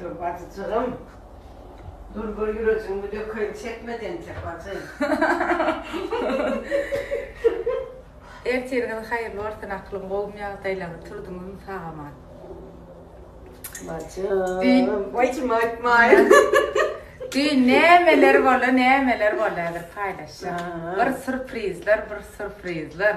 Dur bajyjygym. Dur bir ýürejigiňi dökeýin çekmedi entek bajy. Ertiriňiz haýyrly bolsun akylym gowmy ýagdaýlaňy turdyňyzmy sag aman. Bajym. Wajym aýtmaýyn. Düýn nämeler boldy nämeler boldy häzir paýlaşýan. Bir surprizler bir surprizler.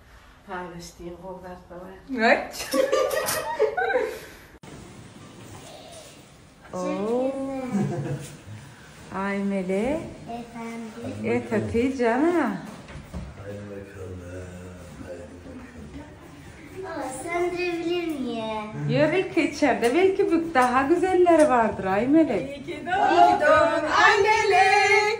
Paýlaşdyň gowy zatlar. Aý Mele. Ependi. jana. Ýör ilki içerde belki bük daha güzelleri bardyr Aý Melek. Aý Melek.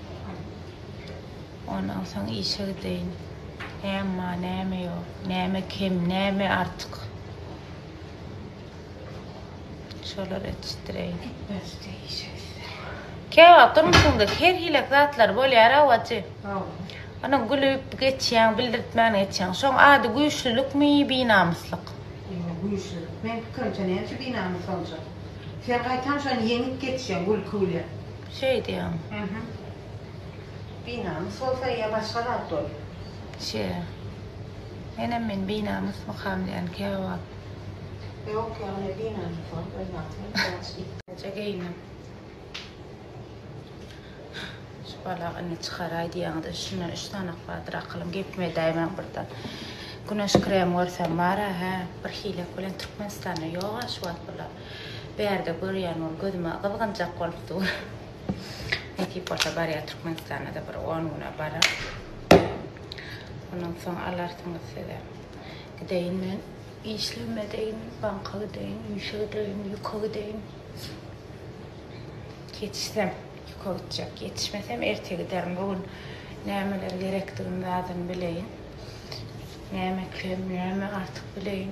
Ondan soň işe gideýin. Näme bar, näme ýok, näme kem, näme artyk. Şolary etişdireýin. Etmezdi işe gitse. Käwagt durmuşyňda her hili zatlar bolýar awajy. Ana gülüp geçýäň, bildirtmän geçýäň. Şoň ady güýçlülikmi, binamyslyk? Ýok, güýçlülik. Men pikrimçe näme üçin binamys boljak? Sen gaýtam şony ýeňip geçýäň gülki bilen. Şeý diýýäň. Ähä. Binamys bolsa ýa başga zat bol. Şe. Menem men binamys mykam diýän käwagt. Ýok ýagny binamys bolup öz wagtyny geçirdi. Näçe geýindim. Şu balagy indi çykaraý diýýäňizde üstünden üç sanak bardyr akylym gepimi edäýmäň birden. Güneş krem görsem bar-a hä. Birhilek bilen Türkmenistanda ýog-a şu wagt bular. Bärde görýän ol gözüme gyzgynjak bolup dur. Nesip bolsa barýar Türkmenistana-da bir on güne barar. Ondan soň alarsyňyz size. Gideýin men işlemedeýin, banka gideýin, işe gideýin, ýüke gideýin. Ýetişsem ýüke gitjek, ýetişmesem erte giderin. Bu gün nämeler gerekdigini zadyn bileýin. Näme kem, näme artyk bileýin.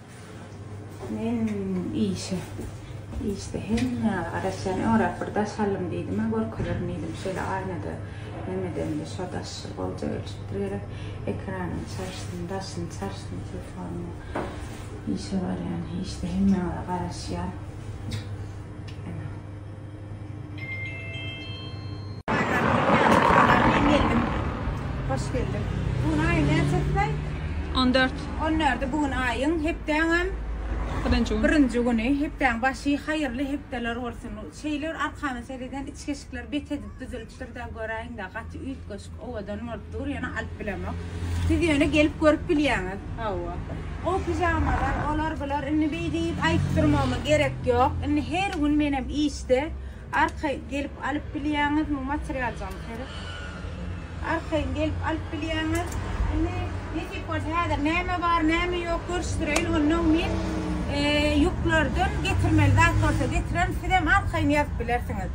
Men işe, işde hemmäge garaşýan öňräk bir daş aldym diýdim-ä, görkezerin diýdim, şeýle aýnada näme edemde, şo daş bolja gelşipdir gerek, ekranyny çalyşdym, daşyny çalyşdym telefonymy, işe barýan, işde hemmäge garaşýan. Hoş geldiň. Bugün aýy näçesine? On dört. On dördi bugün aýyň hepdäňem Birinji gün. birinji güni. Hepdäň başy haýyrly hepdeler bolsun. Şeýle bir arkama sereden içgeşikler bet edip düzülip Dur-da göräýiň-dä, gaty üýtgeşik, owadan bolup dur, ýöne alyp bilemok. Siz ýöne gelip görüp bilýäňiz. Hawa. O pijamalar, olar-bular, indi beý diýip aýdyp durmagyma gerek ýok. Indi her gün menem işde, arkaýyn gelip alyp bilýäňiz, muň materialjagyny seret. Arkaýyn gelip alyp bilýäňiz. Indi nesip bolsa häzir näme bar, näme ýok görüşdireýin, onnoň men ýuklardan getirmeli zat bolsa getirerin, sizem arkaýyn ýazyp bilersiňiz.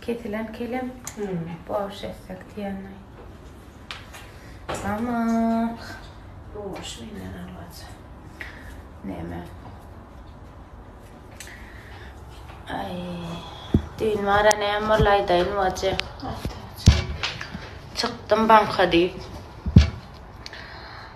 Kesilen kelem. Borş etsek diýenli. Tamam. Borş bilen alacak. Neme? Ay. Düýn bara näme boldy aýdaýyn wajy. Çykdym banka diýip.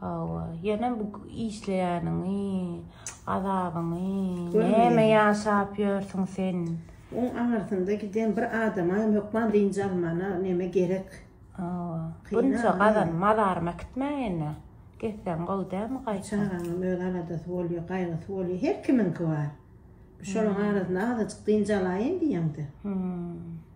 Hawa, ýöne bu işleýäniňi, azabyňy, näme ýaşap ýörsüň sen? Oň aňyrsynda giden bir adama hem hökman dynç almana näme gerek? Hawa, bunça gazan mazarymy äkitmäýene, gitseň gowy dälmi gaýtam? Çagaňam öz aladasy bolýar, gaýgysy bolýar, her kimiňki bar. Şolaryň arasynda azajyk dynç alaýyn diýeňde. Hum.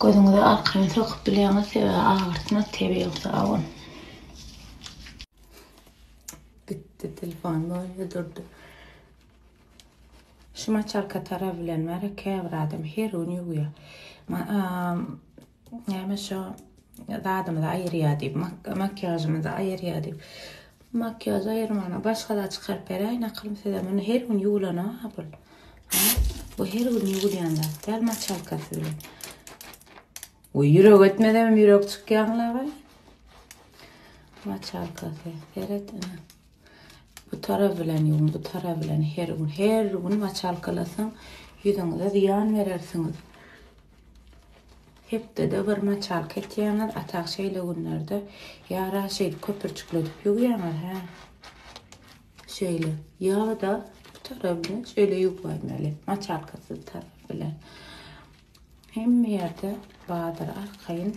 Gözüňize arkan sokup bilýäňiz, sebäbi agyrtmaz tebigy sabyn. Gitdi telefon bolýa durdy. Şu maçalka tarap bilen bar, käbir adam her gün ýuwýar. Näme şo zadymyzy aýyrýar diýip, makiýažymyzy aýyrýar diýip. Makiýaž aýyrmana başga zat çykaryp beräýin akylym size. Muny her gün ýuwulana hapyl. Bu her gün ýuwulýan zat. Däl maçalkasy bilen. Oý ýürek etmedem ýürek çykýanlaga. Maçalkasy. Seret ene. Bu tarap bilen ýuwuň, bu tarap bilen her gün, her gün maçalkalasaň, ýüzüňize zyýan berersiňiz. Hepdede bir maçalka etýäňiz, atak şeýle günlerde ýa raşeýdi köpürçikledip ýuwýaňyz, hä? Şeýle. Ýa-da bu tarap bilen şeýle ýuwmaýmaly, maçalkasyz tarap bilen. Hemme ýerde bardyr arkaýyn.